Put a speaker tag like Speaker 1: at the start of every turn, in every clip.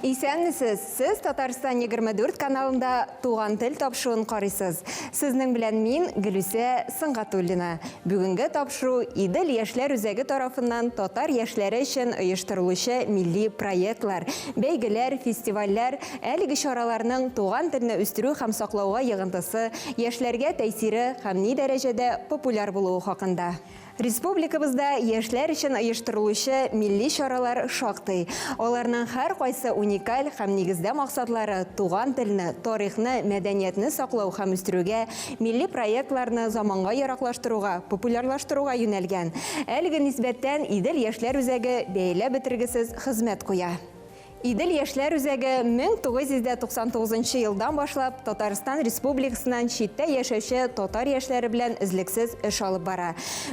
Speaker 1: Исәнмесез! Сез Татарстан 24 каналында Туган тел тапшыруын карыйсыз. Сезнең белән мин, Гөлүсә Сөнгатуллина. Бүгенге тапшыру Идел яшьләр үзәге тарафыннан татар яшьләре өчен оештырылучы милли проектлар, бәйгеләр, фестивальләр, әлеге чараларның туган телне үстерү һәм саклауга йогынтысы, яшьләргә тәэсире һәм ни дәрәҗәдә популяр булуы хакында. Республикабызда яшьләр өчен оештырылучы милли чаралар шактый. Аларның һәркайсы уникаль һәм нигездә максатлары туган телне, тарихны, мәдәниятне саклау һәм үстерүгә, милли проектларны заманга яраклаштыруга, популярлаштыруга юнәлгән. Әлеге нисбәттән Идел яшьләр үзәге бәяләп бетергесез хезмәт куя. Идел яшьләр үзәге 1999 нчы елдан башлап Татарстан Республикасыннан читтә яшәүче татар яшьләре белән өзлексез эш алып бара.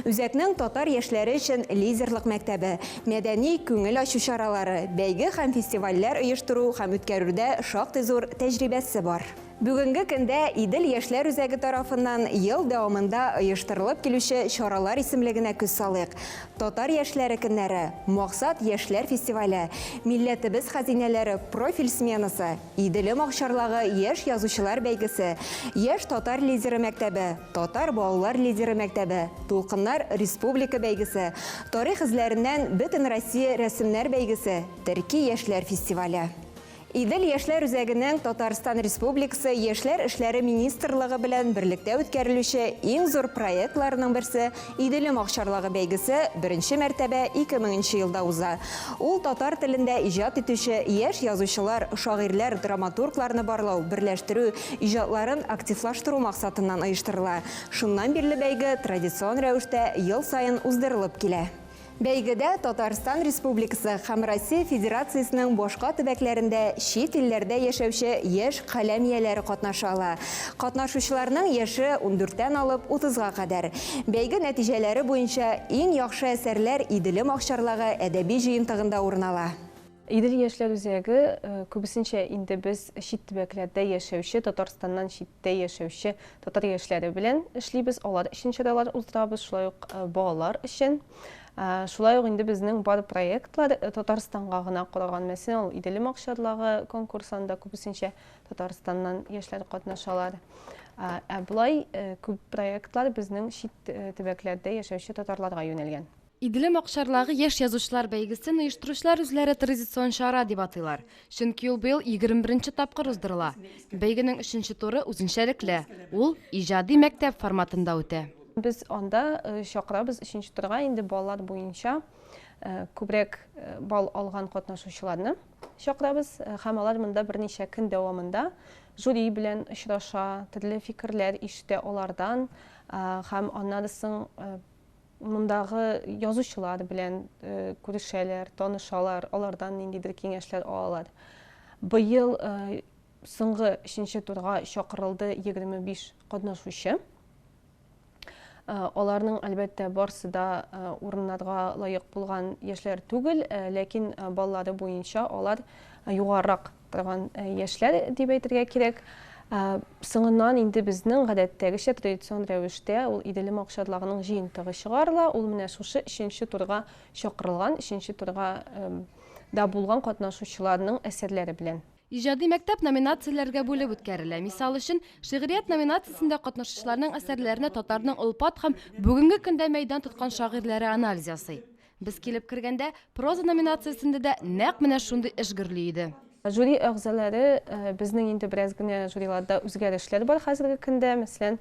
Speaker 1: Үзәкнең татар яшьләре өчен лидерлык мәктәбе, мәдәни, күңел ачу чаралары, бәйге һәм фестивальләр оештыру һәм үткәрүдә шактый зур тәҗрибәсе бар. Бүгенге көндә Идел яшьләр үзәге тарафыннан ел дәвамында оештырылып килүче чаралар исемлегенә күз салыйк, Татар яшьләре көннәре, Максат яшьләр фестивале, Милләтебез хәзинәләре профиль сменасы, Иделем Акчарлагы яшь язучылар бәйгесе, Яшь татар лидеры мәктәбе, Татар балалар лидеры мәктәбе, Дулкыннар республика бәйгесе, Тарих эзләреннән Бөтенроссия рәсемнәр бәйгесе, Терки яшьләр фестивале. Идел яшьләр үзәгенең Татарстан Республикасы Яшьләр эшләре министрлыгы белән берлектә үткәрелүче иң зур проектларының берсе Иделем акчарлыгы бәйгесе беренче мәртәбә 2000 нче елда уза. Ул татар телендә иҗат итүче яшь язучылар, шагыйрьләр, драматургларны барлау, берләштерү, иҗатларын активлаштыру максатыннан оештырыла. Шуннан бирле бәйге традицион рәвештә ел саен уздырылып килә. Бәйгедә Татарстан Республикасы һәм Россия Федерациясенең башка төбәкләрендә чит илләрдә яшәүче яшь каләм ияләре катнаша ала. Катнашучыларның яше ундүрттән алып утызга кадәр. Бәйге нәтиҗәләре буенча иң яхшы әсәрләр Иделем акчарлагы әдәби җыентыгында урын ала. Идел яшьләр
Speaker 2: үзәге күбесенчә инде без чит төбәкләрдә яшәүче, Татарстаннан читтә яшәүче татар яшьләре белән эшлибез, алар өчен чаралар уздырабыз, шулай ук балалар өчен. Шулай ук инде безнең бар проектлар Татарстанга гына караган. Мәсәлән, ул Иделем акчарлагы конкурсы, анда күбесенчә Татарстаннан яшьләр катнашалар. Ә болай күп проектлар безнең чит төбәкләрдә яшәүче татарларга юнәлгән. Иделем Акчарлагы
Speaker 3: яшь язучылар бәйгесен оештыручылар үзләре традицион чара дип атыйлар, чөнки ул быел егерме беренче тапкыр уздырыла. Бәйгенең өченче туры үзенчәлекле, ул иҗади мәктәп форматында үтә. Без анда
Speaker 2: чакырабыз өченче турга инде балалар буенча күбрәк балл алган катнашучыларны чакырабыз һәм алар монда берничә көн дәвамында жюри белән очраша, төрле фикерләр ишетә алардан һәм аннары соң Мондагы язучылар белән күрешәләр, танышалар, алардан ниндидер киңәшләр алалар. Быел соңгы өченче турга чакырылды 25 катнашучы. Аларның, әлбәттә, барсы да урыннарга лаек булган яшьләр түгел, ләкин баллары буенча алар югарырак Торган яшьләр дип әйтергә кирәк. Соңыннан инде безнең гадәттәгечә традицион рәвештә ул Иделем акчарларының җыентыгы чыгарыла. Ул менә шушы өченче турга чакырылган, өченче турга да булган катнашучыларның әсәрләре белән. Иҗади мәктәп
Speaker 3: номинацияләргә бүлеп үткәрелә. Мисал өчен, Шигърият номинациясендә катнашучыларның әсәрләренә татарның олпат һәм бүгенге көндә мәйдан тоткан шагыйрьләре анализ ясый. Без килеп кергәндә, проза номинациясендә дә нәкъ менә шундый эш гөрли иде. Жюри әгъзалары,
Speaker 2: безнең инде бераз генә жюриларда үзгәрешләр бар хәзерге көндә. Мәсәлән,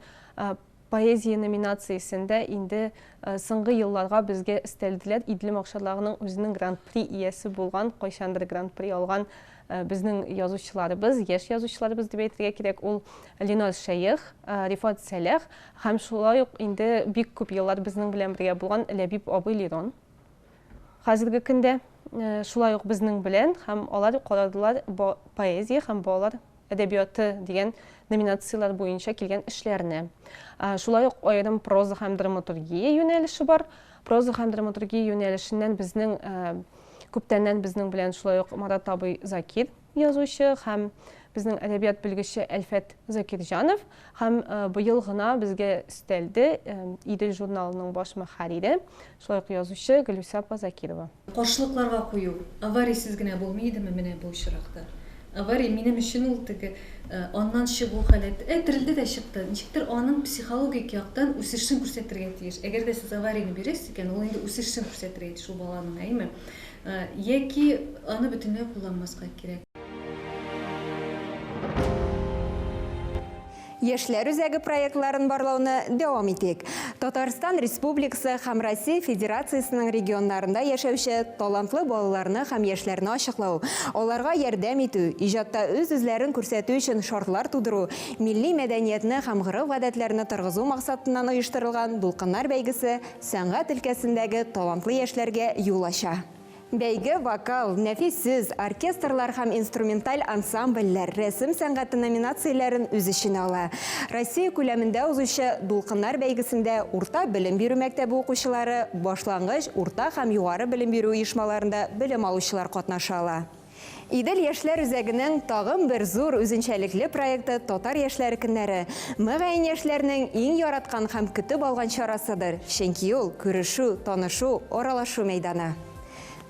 Speaker 2: поэзия номинациясендә инде соңгы елларга безгә өстәлделәр. Идле макшалагының үзенең гран-при иясе булган, кайчандыр гран-при алган безнең язучыларыбыз, яшь язучыларыбыз дип әйтергә кирәк, ул Ленар Шәех, Рифат Сәлах Һәм шулай ук инде бик күп еллар безнең белән бергә булган Ләбиб абый Лирон. Хәзерге көндә шулай ук безнең белән һәм алар карадылар поэзия һәм балалар әдәбияты дигән номинацияләр буенча килгән эшләрне. Шулай ук аерым проза һәм драматургия юнәлеше бар. Проза һәм драматургия юнәлешеннән безнең күптәннән безнең белән шулай ук Марат абый Закир язучы һәм безнең әдәбият белгече Әлфәт Закирҗанов һәм быел гына безгә өстәлде Идел журналының баш мөхәррире, шулай ук язучы Гөлүсә апа Закирова. Каршылыкларга кую
Speaker 4: аварийсез генә булмый идеме менә бу очракта? Авария, минем өчен ул теге аннан чыгу халәте, ә терелде дә чыкты, ничектер аның психологик яктан үсешен күрсәтергә тиеш. Әгәр дә сез аварийны бирәсез икән, ул инде үсешен күрсәтергә тиеш ул баланың, әйеме? Яки аны бөтенләй кулланмаска кирәк.
Speaker 1: Яшьләр үзәге проектларын барлауны дәвам итик. Татарстан Республикасы һәм Россия Федерациясенең регионнарында яшәүче талантлы балаларны һәм яшьләрне ачыклау, аларга ярдәм итү, иҗатта үз-үзләрен күрсәтү өчен шартлар тудыру, милли мәдәниятне һәм гореф-гадәтләрне торгызу максатыннан оештырылган Дулкыннар бәйгесе сәнгать өлкәсендәге талантлы яшьләргә юл ача. Бәйге вокал, нәфис сүз, оркестрлар һәм инструменталь ансамбльләр, рәсем сәнгате номинацияләрен үз эченә ала. Россия күләмендә узучы Дулкыннар бәйгесендә урта белем бирү мәктәбе укучылары, башлангыч, урта һәм югары белем бирү оешмаларында белем алучылар катнаша ала. Идел яшьләр үзәгенең тагын бер зур үзенчәлекле проекты Татар яшьләре көннәре, мөгаен, яшьләрнең иң яраткан һәм көтеп алган чарасыдыр, чөнки ул, күрешү, танышу, аралашу мәйданы.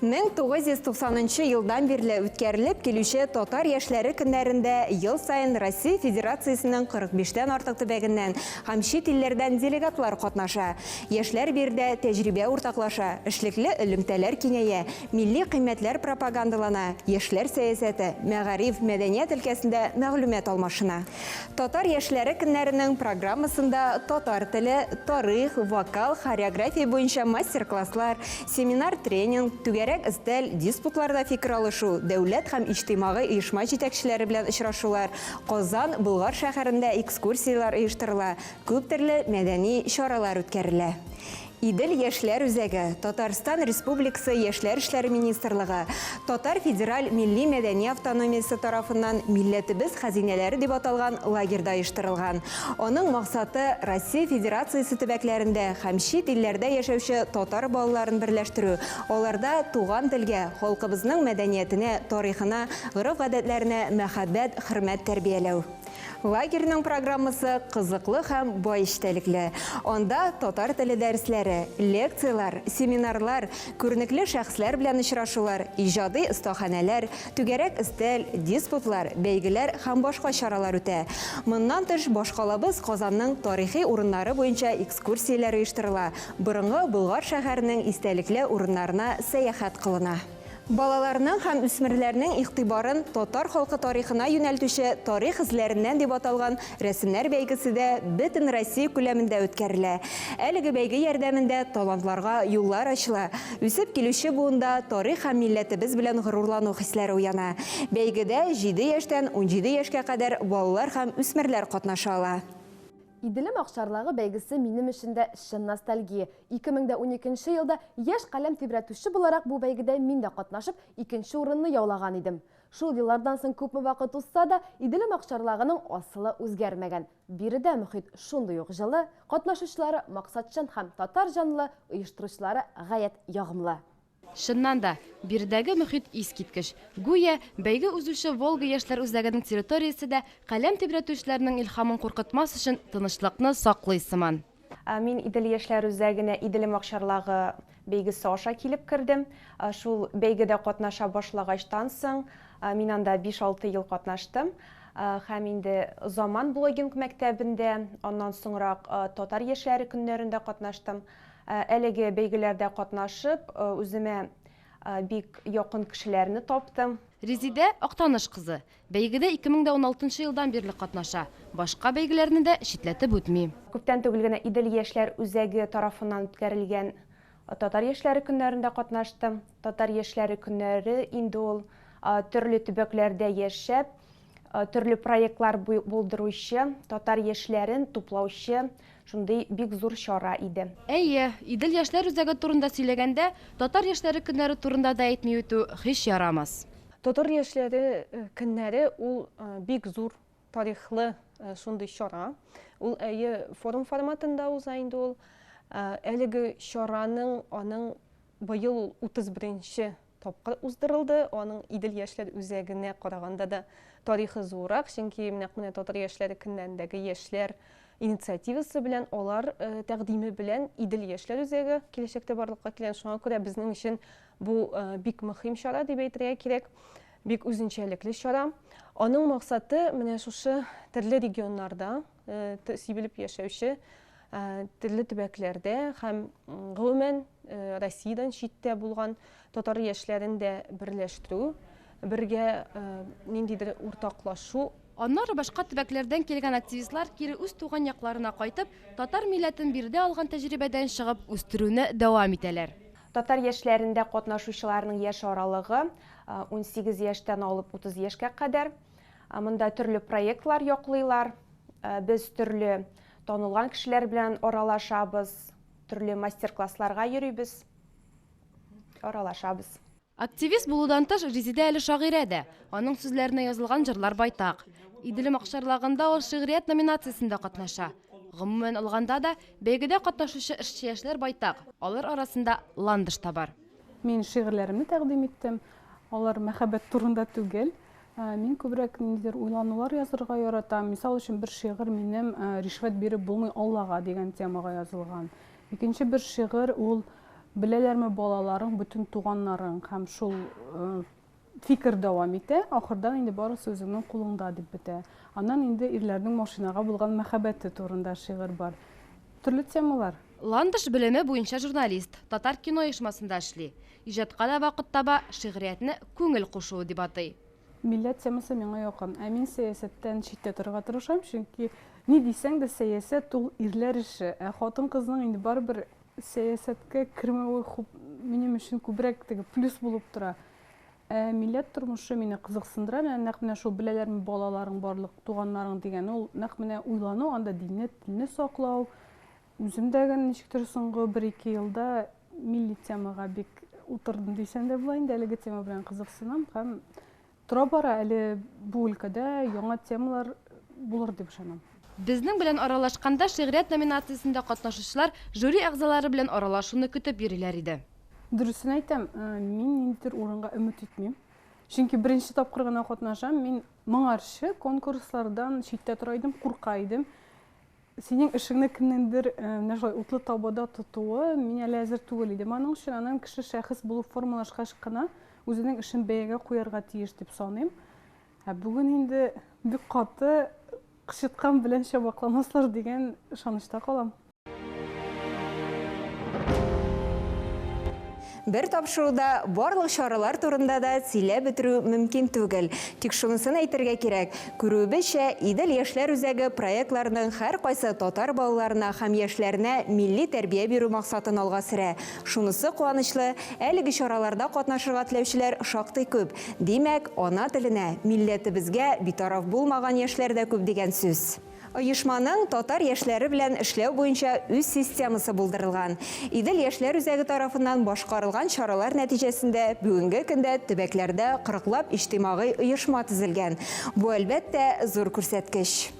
Speaker 1: 1990 нчы елдан бирле үткәрелеп килүче Татар яшьләре көннәрендә ел саен Россия Федерациясенең 45 тән артык төбәгеннән һәм чит илләрдән делегатлар катнаша, яшьләр биредә тәҗрибә уртаклаша, эшлекле элемтәләр киңәя, Милли кыйммәтләр пропагандалана, яшьләр сәясәте, мәгариф, мәдәният өлкәсендә мәгълүмат алмашына. Татар яшьләре көннәренең программасында татар теле, тарих, вокал, хореография буенча мастер-класслар, семинар-тренинг, түгәрәк өстәл, диспутларда фикер алышу, дәүләт һәм иҗтимагый оешма җитәкчеләре белән очрашулар, Казан, Болгар шәһәрендә экскурсияләр оештырыла, күптөрле мәдәни чаралар үткәрелә. Идел яшьләр үзәге, Татарстан Республикасы Яшьләр эшләре министрлыгы, Татар федераль милли-мәдәни автономиясе тарафыннан Милләтебез хәзинәләре дип аталган лагерьда оештырылган. Аның максаты, Россия Федерациясе төбәкләрендә һәм чит илләрдә яшәүче татар балаларын берләштерү, аларда туган телгә, халкыбызның мәдәниятенә, тарихына, гореф-гадәтләренә мәхәббәт, хөрмәт тәрбияләү. Лагерьның программасы кызыклы һәм бай эчтәлекле. Анда татар теле дәресләре, лекцияләр, семинарлар, күренекле шәхесләр белән очрашулар, иҗади остаханәләр, түгәрәк өстәл, диспутлар, бәйгеләр һәм башка чаралар үтә. Моннан тыш, башкалабыз Казанның тарихи урыннары буенча экскурсияләр оештырыла, борынгы Болгар шәһәренең истәлекле урыннарына сәяхәт кылына. Балаларның һәм үсмерләрнең игътибарын татар халкы тарихына юнәлтүче Тарих эзләреннән дип аталган рәсемнәр бәйгесе дә бөтен Россия күләмендә үткәрелә. Әлеге бәйге ярдәмендә талантларга юллар ачыла, үсеп килүче буында тарих һәм милләтебез белән горурлану хисләре уяна. Бәйгедә җиде яшьтән унҗиде яшькә кадәр балалар һәм үсмерләр катнаша ала. Иделем
Speaker 5: Акчарлагы бәйгесе минем өчен дә чын ностальгия. Ике мең дә уникенче елда яшь каләм тибрәтүче буларак бу бәйгедә мин дә катнашып, икенче урынны яулаган идем. Шул еллардан соң күпме вакыт узса да, Иделем Акчарлагының асылы үзгәрмәгән. Биредә мохит шундый ук җылы, катнашучылары максатчан һәм татар җанлы, оештыручылары гаять ягымлы. Чыннан да,
Speaker 3: биредәге мохит искиткеч. Гүя, бәйге узучы Волга яшьләр үзәгенең территориясе дә, каләм тибрәтүчеләрнең илһамын куркытмас өчен, тынычлыкны саклый сыман. Мин Идел
Speaker 2: яшьләр үзәгенә Иделем акчарлагы бәйгесе аша килеп кердем. Шул бәйгедә катнаша башлагачтан соң, мин анда биш-алты ел катнаштым һәм инде Заман блогинг мәктәбендә, аннан соңрак Татар яшьләре көннәрендә катнаштым. Әлеге бәйгеләрдә катнашып, үземә бик якын кешеләрне таптым. Резидә, Актаныш
Speaker 3: кызы. Бәйгедә 2016 елдан бирле катнаша. Башка бәйгеләрне дә читләтеп үтми. Күптән түгел генә
Speaker 2: Идел яшьләр үзәге тарафыннан үткәрелгән Татар яшьләре көннәрендә катнаштым. Татар яшьләре көннәре инде ул, төрле төбәкләрдә яшәп, Э, төрле проектлар булдыручы, татар яшьләрен туплаучы шундый бик зур чара иде. Әйе, Идел
Speaker 3: яшьләр үзәге турында сөйләгәндә, татар яшьләре көннәре турында да әйтми үтү һич ярамас. Татар
Speaker 2: яшьләре э, көннәре ул э, бик зур тарихлы шундый чара. Ул әйе форум форматында уза инде ул. Әлеге чараның аның быел 31 тапкыр уздырылды. Аның Идел яшьләр үзәгенә караганда да тарихы зуррак, чөнки нәкъ менә Татар яшьләре көннәрендәге яшьләр инициативасы белән, алар тәкъдиме белән Идел яшьләр үзәге киләчәктә барлыкка килгән. Шуңа күрә безнең өчен бу бик мөһим чара дип әйтергә кирәк. Бик үзенчәлекле чара. Аның максаты менә шушы төрле регионнарда, сибелеп яшәүче төрле төбәкләрдә һәм гомумән Россиядән читтә булган татар яшьләрен дә берләштерү, бергә ниндидер уртаклашу. Аннары башка
Speaker 3: төбәкләрдән килгән активистлар кире үз туган якларына кайтып, татар милләтен биредә алган тәҗрибәдән чыгып үстерүне дәвам итәләр. Татар яшьләрендә
Speaker 6: катнашучыларның яшь аралыгы унсигез яшьтән алып утыз яшькә кадәр. Монда төрле проектлар яклыйлар. Без төрле танылган кешеләр белән аралашабыз, төрле мастер-классларга йөрибез, аралашабыз.
Speaker 3: Активист булудан тыш, Резидә әле шагыйрә дә. Аның сүзләренә язылган җырлар байтак. Иделем акчарлагында ул шигърият номинациясендә катнаша. Гомумән алганда да, бәйгедә катнашучы эшче яшьләр байтак, алар арасында Ландыш та бар. Мин шигырьләремне
Speaker 7: тәкъдим иттем. Алар мәхәббәт турында түгел. Ә, мин күбрәк ниндидер уйланулар язырга яратам. Мисал өчен, бер шигырь минем ә, Ришвәт биреп булмый Аллага дигән темага язылган. Икенче бер шигырь ул Беләләрме балаларың бөтен туганнарың һәм шул ә, фикер дәвам итә. Ахырдан инде барысы үзеңнең кулыңда дип бетә. Аннан инде ирләрнең машинага булган мәхәббәте турында шигырь бар. Төрле темалар. Ландыш белеме
Speaker 3: буенча журналист, Татар кино оешмасында эшли. Иҗатка да вакыт таба, шигъриятне күңел кушуы дип атый. Милләт темасы
Speaker 7: миңа якын. Ә мин сәясәттән читтә торырга тырышам, чөнки ни дисәң дә сәясәт ул ирләр эше, ә хатын-кызның инде барыбер сәясәткә кермәве хуп минем өчен күбрәк теге плюс булып тора. Ә милләт тормышы мине кызыксындыра, менә нәкъ менә шул беләләрме балаларың барлык туганнарың дигән ул нәкъ менә уйлану анда динне, телне саклау, Үзем дә гел ничектер соңгы бер-ике елда милли темага бик утырдым дисәм дә була инде, әлеге тема белән кызыксынам һәм тора-бара әле бу өлкәдә яңа темалар булыр дип ышанам. Безнең белән
Speaker 3: аралашканда шигърият номинациясендә катнашучылар жюри әгъзалары белән аралашуны көтеп йөриләр иде. Дөресен әйтәм,
Speaker 7: мин ниндидер урынга өмет итмим. Чөнки беренче тапкыр гына катнашам, мин моңарчы конкурслардан читтә тора идем, курка идем. Синең эшеңне кемнеңдер менә шулай утлы табада тотуы мин әле әзер түгел идем аның өчен, анын кеше шәхес булып формалашкач кына үзенең эшен бәягә куярга тиеш дип саныйм. Ә бүген инде бик каты кычыткан белән чабакламаслар дигән ышанычта калам.
Speaker 1: Бер тапшыруда барлык чаралар турында да сөйләп бетерү мөмкин түгел. Тик шунысын әйтергә кирәк, күрүебезчә, Идел яшьләр үзәге проектларының һәркайсы татар балаларына һәм яшьләренә милли тәрбия бирү максатын алга сөрә. Шунысы куанычлы, әлеге чараларда катнашырга теләүчеләр шактый күп. Димәк, ана теленә, милләтебезгә битараф булмаган яшьләр дә күп дигән сүз. Оешманың татар яшьләре белән эшләү буенча үз системасы булдырылган. Идел яшьләр үзәге тарафыннан башкарылган чаралар нәтиҗәсендә бүгенге көндә төбәкләрдә кырыклап иҗтимагый оешма төзелгән. Бу, әлбәттә, зур күрсәткеч.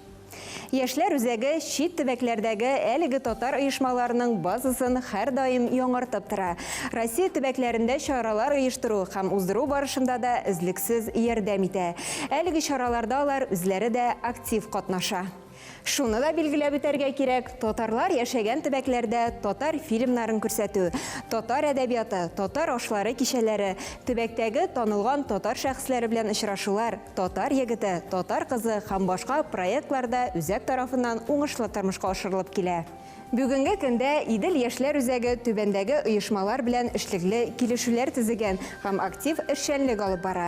Speaker 1: Яшьләр үзәге чит төбәкләрдәге әлеге татар оешмаларының базасын һәрдаим яңартып тора. Россия төбәкләрендә чаралар оештыру һәм уздыру барышында да өзлексез ярдәм итә. Әлеге чараларда алар үзләре дә актив катнаша. Шуны да билгеләп үтәргә кирәк, татарлар яшәгән төбәкләрдә татар фильмнарын күрсәтү, татар әдәбияты, татар ашлары кичәләре, төбәктәге танылган татар шәхесләре белән очрашулар, Татар егете, татар кызы һәм башка проектлар да үзәк тарафыннан уңышлы тормышка ашырылып килә. Бүгенге көндә Идел яшьләр үзәге түбәндәге оешмалар белән эшлекле килешүләр төзегән һәм актив эшчәнлек алып бара,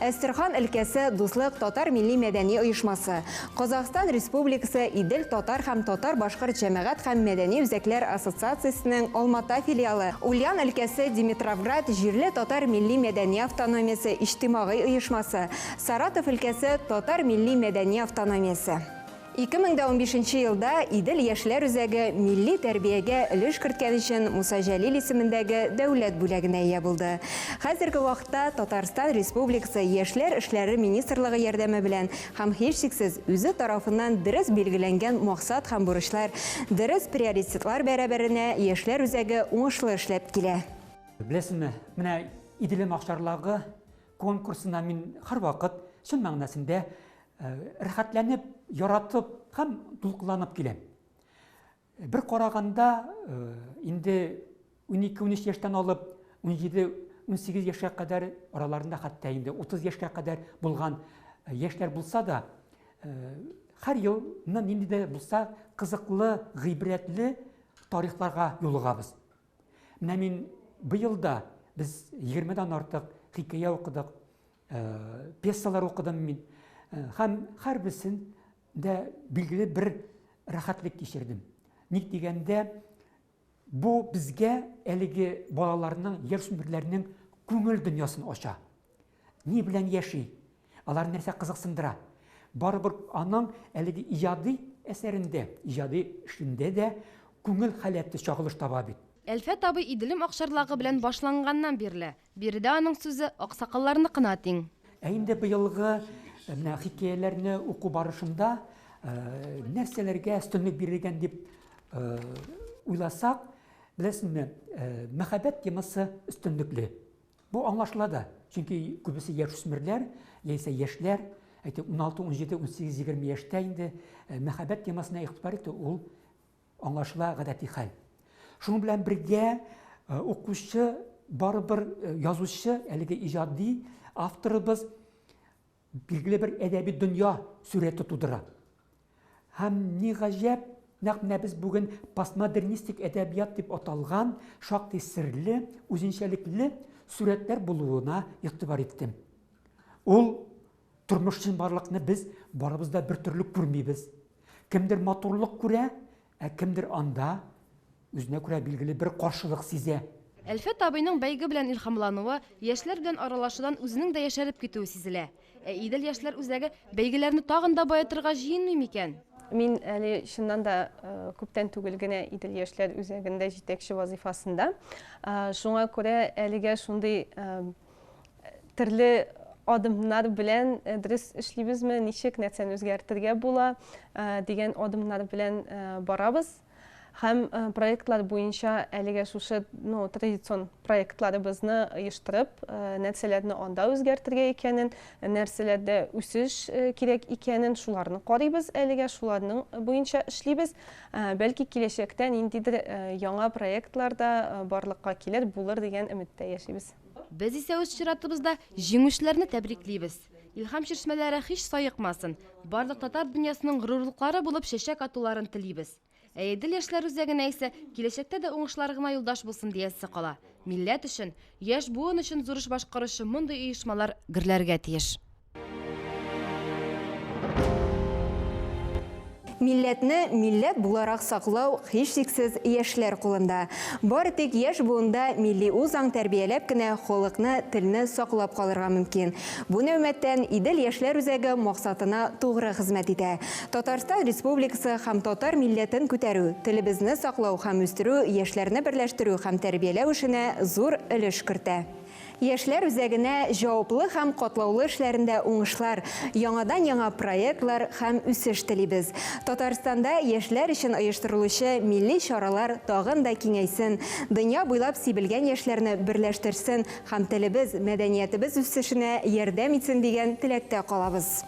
Speaker 1: Әстерхан өлкәсе Дуслык татар милли-мәдәни оешмасы, Казахстан Республикасы Идел татар һәм татар-башкорт җәмәгать һәм мәдәни үзәкләр ассоциациясенең Алмата филиалы, Ульян өлкәсе Димитровград җирле татар милли-мәдәни автономиясе иҗтимагый оешмасы, Саратов өлкәсе татар милли-мәдәни автономиясе. Ике мең дә унбиш нче елда Идел яшьләр үзәге милли тәрбиягә өлеш керткән өчен Муса Җәлил исемендәге дәүләт бүләгенә ия булды. Хәзерге вакытта Татарстан Республикасы Яшьләр эшләре министрлыгы ярдәме белән һәм һичшиксез үзе тарафыннан дөрес билгеләнгән максат һәм бурычлар, дөрес приоритетлар бәрабәренә яшьләр үзәге уңышлы эшләп килә. Беләсезме,
Speaker 8: менә Иделем Акчарлагы конкурсына мин һәрвакыт чын мәгънәсендә Э, рәхәтләнеп, яратып һәм дулкынланып киләм. Бер караганда э, инде 12-13 яшьтән алып 17-18 яшькә кадәр араларында хәтта инде 30 яшькә кадәр булган э, яшьләр булса да, һәр елны нинди дә булса кызыклы, гыйбрәтле тарихларга юлыгабыз. Менә мин быел да без 20-дән артык хикәя укыдык, пьесалар укыдым мин һәм һәрберсен дә билгеле бер рәхәтлек кичердем ник дигәндә бу безгә әлеге балаларның яшүсмерләрнең күңел дөньясын ача ни белән яши алар нәрсә кызыксындыра барыбер аның әлеге иҗади әсәрендә иҗади эшендә дә күңел халәте чагылыш таба бит Әлфәт абый Иделем
Speaker 3: акчарлагы белән башланганнан бирле, Биредә аның сүзе аксакалларныкына тиң. Ә инде быелгы
Speaker 8: менә хикәяләрне уку барышында нәрсәләргә өстенлек бирелгән дип уйласак, беләсезме, мәхәббәт темасы өстенлекле. Бу аңлашыла да, чөнки күбесе яшүсмерләр яисә яшьләр, әйтик, 16, 17, 18, 20 яшьтә инде мәхәббәт темасына игътибар итү ул Аңлашыла, гадәти хәл. Шуның белән бергә укучы барыбер язучы, әлеге иҗади авторыбыз билгеле бер әдәби дөнья сурәте тудыра. Һәм ни гаҗәп, нәкъ менә без бүген постмодернистик әдәбият дип аталган шактый серле, үзенчәлекле сурәтләр булуына игътибар иттем. Ул Тормыш чынбарлыкны без барыбыз да бер төрле күрмибез. Кемдер матурлык күрә, ә кемдер анда үзенә күрә билгеле бер каршылык сизә. Әлфәт абыйның
Speaker 3: бәйге белән илһамлануы, яшьләр белән аралашудан үзенең дә яшәреп китүе сизелә. Ә Идел яшьләр үзәге бәйгеләрне тагын да баетырга җыенмый микән? Мин әле
Speaker 2: чыннан да күптән түгел генә Идел яшьләр үзәгендә җитәкче вазыйфасында. Шуңа күрә әлегә шундый Төрле адымнар белән э, дөрес эшлибезме, ничек нәрсәне үзгәртергә була э, дигән адымнар белән э, барабыз. Һәм проектлар буенча әлегә шушы ну, традицион проектларыбызны оештырып, нәрсәләрне анда үзгәртергә икәнен, нәрсәләрдә үсеш кирәк икәнен, шуларны карыйбыз әлегә, шуларның буенча эшлибез. Бәлки киләчәктә ниндидер яңа проектлар да барлыкка килер, булыр дигән өметтә яшибез. Без исә үз
Speaker 3: чиратыбызда җиңүчеләрне тәбриклибез. Илһам чишмәләре һич саекмасын, барлык татар дөньясының горурлыклары булып чәчәк атуларын телибез. Ә Идел яшьләр үзәгенә исә киләчәктә дә уңышлар гына юлдаш булсын диясе кала. Милләт өчен, яшь буын өчен зур эш башкаручы мондый оешмалар гөрләргә тиеш.
Speaker 1: Милләтне милләт буларак саклау һичшиксез яшьләр кулында. Бары тик яшь буында милли үзаң тәрбияләп кенә халыкны, телне саклап калырга мөмкин. Бу нәүмәттән Идел яшьләр үзәге максатына тугры хезмәт итә. Татарстан Республикасы һәм татар милләтен күтәрү, телебезне саклау һәм үстерү яшьләрне берләштерү һәм тәрбияләү эшенә зур өлеш кертә. Яшьләр үзәгенә җаваплы һәм катлаулы эшләрендә уңышлар, яңадан-яңа проектлар һәм үсеш телибез. Татарстанда яшьләр өчен оештырылучы милли чаралар тагын да киңәйсен, дөнья буйлап сибелгән яшьләрне берләштерсен һәм телебез, мәдәниятебез үсешенә ярдәм итсен дигән теләктә калабыз.